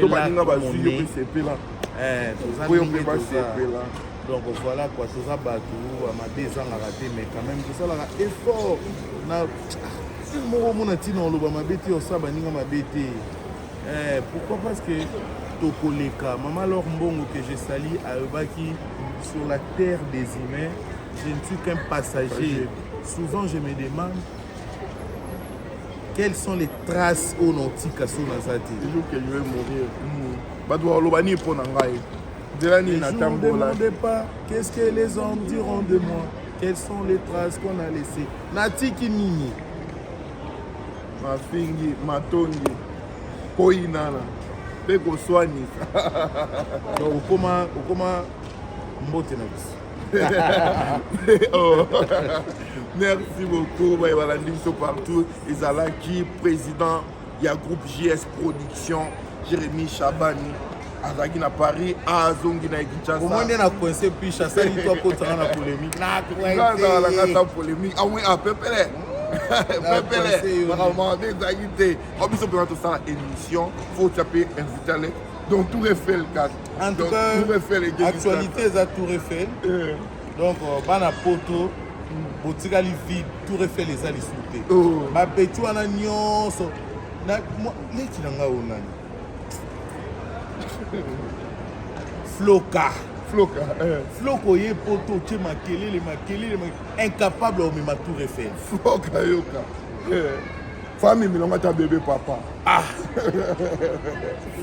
to baninga bazwi yo mpe sepela eh, mpo yo mpe basepela donc voilà quoi toza bato mabe ezangaka te mais quand même tosalaka effort na sile ah, moko omona ntina oloba mabe te osala baninga mabe te eh, pourquoi parce que tokoleka mama lor mbongo que je sali ayobaki sur la terre des humains je ne suis qu'un passager souvent je me demande quelles sont les traces oyo na otika so naza te le jour que je vais mourir bato bakoloba nini mpo na ngai nzela nini natambola qu'est-ce que les hommes diront de moi quelles sont les traces qu'on a laissé natiki nini mafingi matongi koyinana mpe koswanisa donc okoma okoma mbote na biso oh. merci beaucoup baye balandi biso partout ezalaki président ya groupe js production jérémi chabani azalaki na paris azongi na kinshasa omoi nde na coince piche asali to akotanga na polémique naazalakata polémique amoi ah apepele pepele makambo mabe ezalaki te o biso mpena tosala émission fo tya mpe invitale donc tout refait le cadre En tout cas, actualité eza Tour Eiffel. Euh. Donc euh, bana poto botikali vide Tour Eiffel eza lisusu te. Oh. Ba beti wana nyonso na leki na ngai onani floka floka eh. floka oye poto otie makelele makelele incapable omema tour efel floka yoka eh. fami milongo ata bebe papa Ah.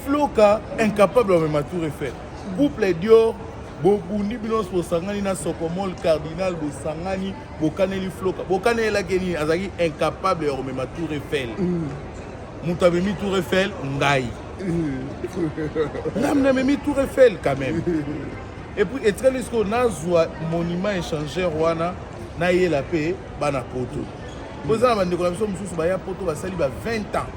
Floka incapable mais ma tour Eiffel. Couple Dior bobundi bino nyonso bosangani na sokomol cardinal bosangani bokaneli floka bokanelelaki nini azalaki incapable ya komema tour eiffel mm. moto amemi tour eiffel ngai ngamna amemi tour eiffel quand même epuis etikali sikoyo nazwa monument échangeur wana nayela mpe bana poto boza na bandeko na biso mosusu baya poto basali ba 20 ans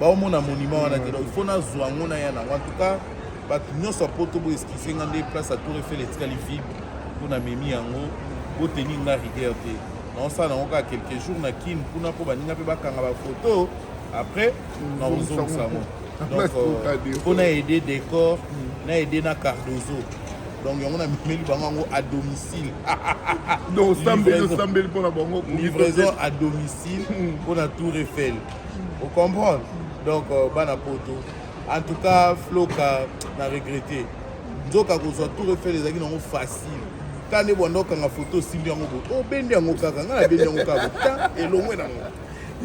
baomona monument wana te donc il faut nazwa yango na ya nango en tout cas bato nyonso ya poto boeskise nga nde place ya tour efel etikali vide mpo na memi yango boteni nga rigueur te naosala nango kaka quelques jours na kin kuna mpo baninga mpe bakanga bafoto après nakozongisa yango donc mpo na aide décor na aide na cardozo donc yango na mimeli bango yango à domicile donc osambeli osambeli mpo na bango livraison à domicile hmm. mpo na tour eiffel ocomprendre donc euh, bana poto en tout cas floka na regrete nzoka kozwa tour eiffel ezalaki nango facile ta nde bwanda okanga foto osimbi yango bo obendi oh, yango kaka ngai nabendi yango kaka ta elongwe nango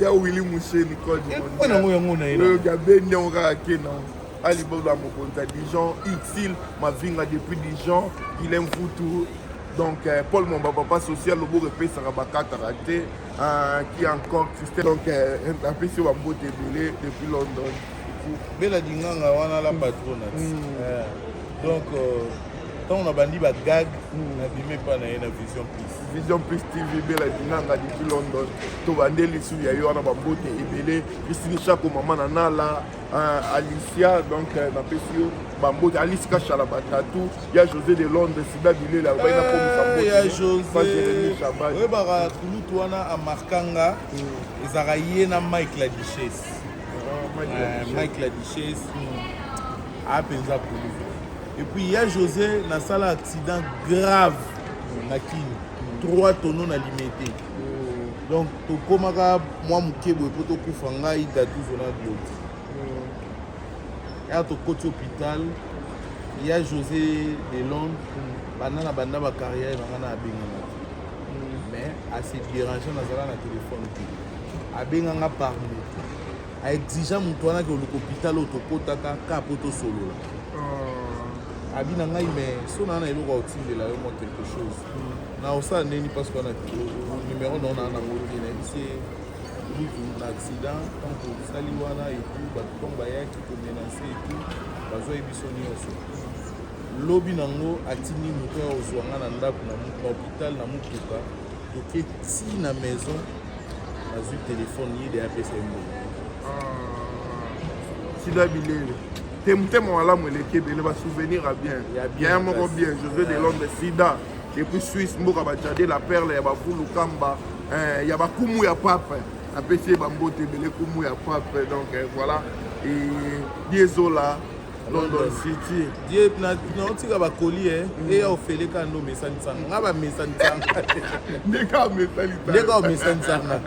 ya wili mushe nicole ekwe nango yango na ye oyo gabendi yango kaka ke nango Ali Bongo ya mokonzi ya Dijon, Ursule Mavinga depuis Dijon, Guilain Mfutu, donc euh, Paul Momba papa social loboko epesaka bakataka te euh, qui encore Christelle donc euh, apesi yo bambote ebele depuis London bela dinganga wana la patrona mm. euh, donc ntango euh, nabandi bagag mm. nabimi epai na ye na vision plus vision plus tv bela dinganga depuis london tobande lisusu ya yo wana bambote ebele christine chako mama na nala Uh, alicia donc uh, napesi yo bambote alice kashala batatu ya josé de londres sida bilela obai eh, nakomisaoya joseoyebaka kulutu wana amarkanga mm. ezalaka ye na mike la duchesse ah, eh, mike la duchesse mm. apenza ah, kulutu epuis ya josé nasala accident grave na kini 3 tono na limete donc tokomaka mwa moke boye mpo tokufa ngai datuzo na glodi ya tokoti hôpital ya josé de londres banda na banda bacarrière na ngai na abengana te mais ase dérange nazala na telefone te abenga nga par moto aexigea moto wana ke oluka hôpital oyo tokotaka ka mpo tosolola ah. abi na ngai mais so naa na eloko ya kotindela yo mwa quelque chose Na osala nini parce que na numéro na na na ngolo na bisi mutu na accident tant que sali wana et tout ba tant ba ya ki ko menacer et tout ba zo biso nioso lobi nango atindi moto ya kozwa nga na ndako na hôpital na motuka toke ti na maison nazwi telefone ye de apesa ye mbongo sida bilele te motema malamu eleki ebele basouvenir ya bien ya moko bien josé de londres sida depuis suisse mboka bajade la perle ya bafulu kamba eh, ya bakumu ya pape apesi ye bambote ebele kumu ya pape donc eh, voilà diezola london city ye naotika bakoli e mm. eya ofele kaka nde omesanisanga nga bamesanisanga ndeka omesanisanga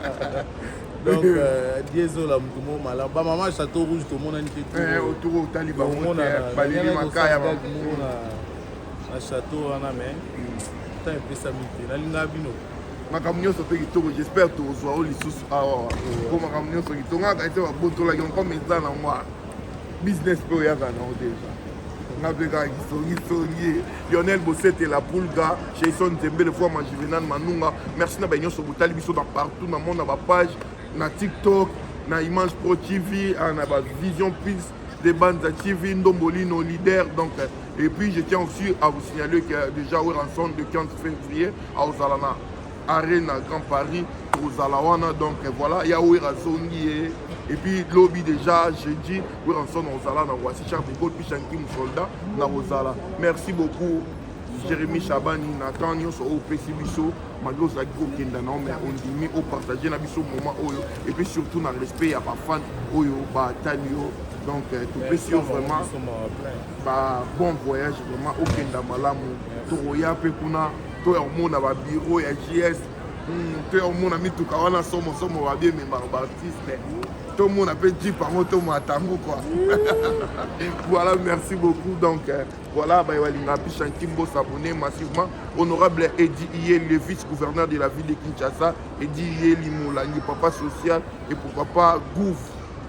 donc euh, diezola motu mo malamu bamama chateau rouge tomonani te eh, omonana na chateau wana mais temps epesami te nalingaka bino makambo nyonso mpe kitoko jespère tokozwa oyo lisusu awa mpo makambo nyonso kitoko nga kati babotolaki encore meza na ngwa business mpe oyaka nango deja nga mpe kaka kisongisongi lionel bosete la pulga jason nzembele foama juvenal manunga merci na baye nyonso botali biso na partout na mona bapage na tiktok na image pro tv ah, na bavision pils de Banza TV, Ndombolino, leader. Donc, et puis, je tiens aussi à vous signaler qu'il y a déjà eu rançon de 15 février à Ozalana, Arena, Grand Paris, Ozalawana. Donc, voilà, il y a eu rançon et puis lobby déjà jeudi oui rançon na ozala na voici charles de Gaulle puis chanki soldat na ozala merci beaucoup jérémy chabani na temps nyonso oyo opesi biso malgre ozalaki kokenda na mais ondimi opartage na biso moment oyo et puis surtout na respect ya bafan oyo batali yo donc euh, topesi yo vraiment ba bon voyage vraiment okenda malamu tokoya mpe kuna toya komona babiro ya gs hmm, toya komona mituka wana somosomo babiememaka baartiste tomona mpe jip yango tomata yango kua voilà merci beaucoup donc euh, Voilà, bah, Kimbo s'abonner massivement. Honorable Edi Iye, le vice-gouverneur de la ville de Kinshasa, Edi Iye Limolangi, papa social, et pourquoi pas Gouv,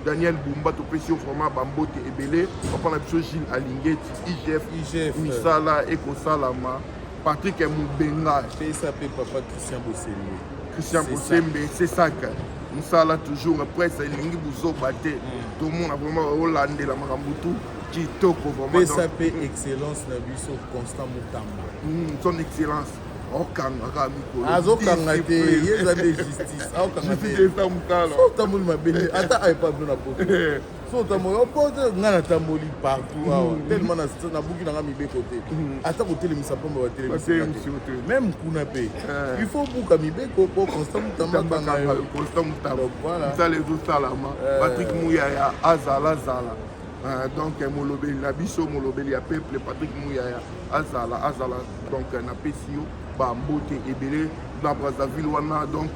Daniel Bumba, topesi yo vraiment bambote ebele, papa na biso Gilles Alingeti, IGF, IGF, misala ekosalama, Patrick Mubenga, PSAP, papa Christian Bosembe, Christian Bosembe, c'est ça que mosala toujours presse elingi buzoba te mm. tomona vraiment olandela makambo tout kitoko vraiment pesa pe excellence na biso constant mutamba hmm, son excellence okangaka mikolo azokanga te ye eza nde justice aokanga teotamboli mabe ata aepablo na poto so otamboli opoto ngai natamboli partout hmm. awa telema nabuki nanga mibeko te hmm. ata kotelemisa mpamba batelemimeme kuna mpe eh. il faut buka mibeko mpo constant mutambakangayoconstantmutambasala ezosalama eh. patrik muyaya azalazala Euh, donc euh, molobeli na biso molobeli ya peuple patrick muyaya azala azala donc euh, napesi yo bambote ebele na brazzaville wana donc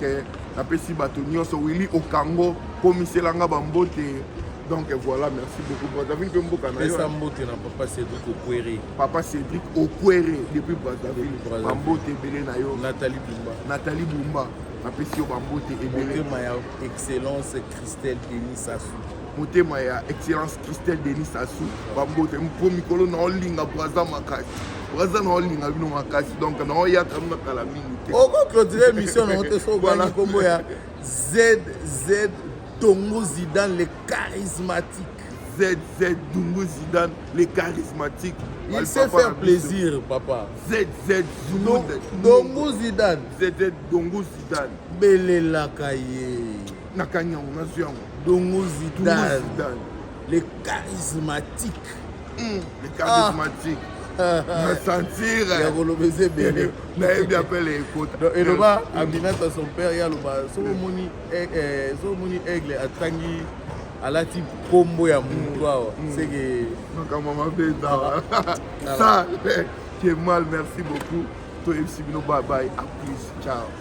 napesi bato nyonso willi okango komiselanga bambote donc voilà merci beaucoup brazzaville mpe mboka na yo mbote na papa cédric okwere papa cédric okwere depuis brazzaville bambote ebele na yo nathalie bumba nathalie bumba napesi yo bambote ebele motema ya excellence christelle denis sasu motema ya excellence christelle denis sassou bambote mpo mikolo na olinga braza makasi braza na olinga bino makasi donc na oyaka bino kala mingi te okoclotire émission nango te soobana nkombo ya zz tongo zidane le charismatique ZZ Dungu Zidane, le charismatique. Il sait faire plaisir, papa. ZZ Dungu Zidane. ZZ Dungu Zidane. Belelaka ye. nakangi yango nazwi yango dongo zidane le charismatique hmm. le charismatique ah. na sentir ya koloba eza ebele nayebi apele ekota eloba aminata son père ye aloba soki omoni eh, eh, soki omoni aigle atangi alati nkombo ya motu hmm. awa hmm. seke makambo mabe ezawa sa ke mal merci beaucoup toyebisi bino babaye a plus ciao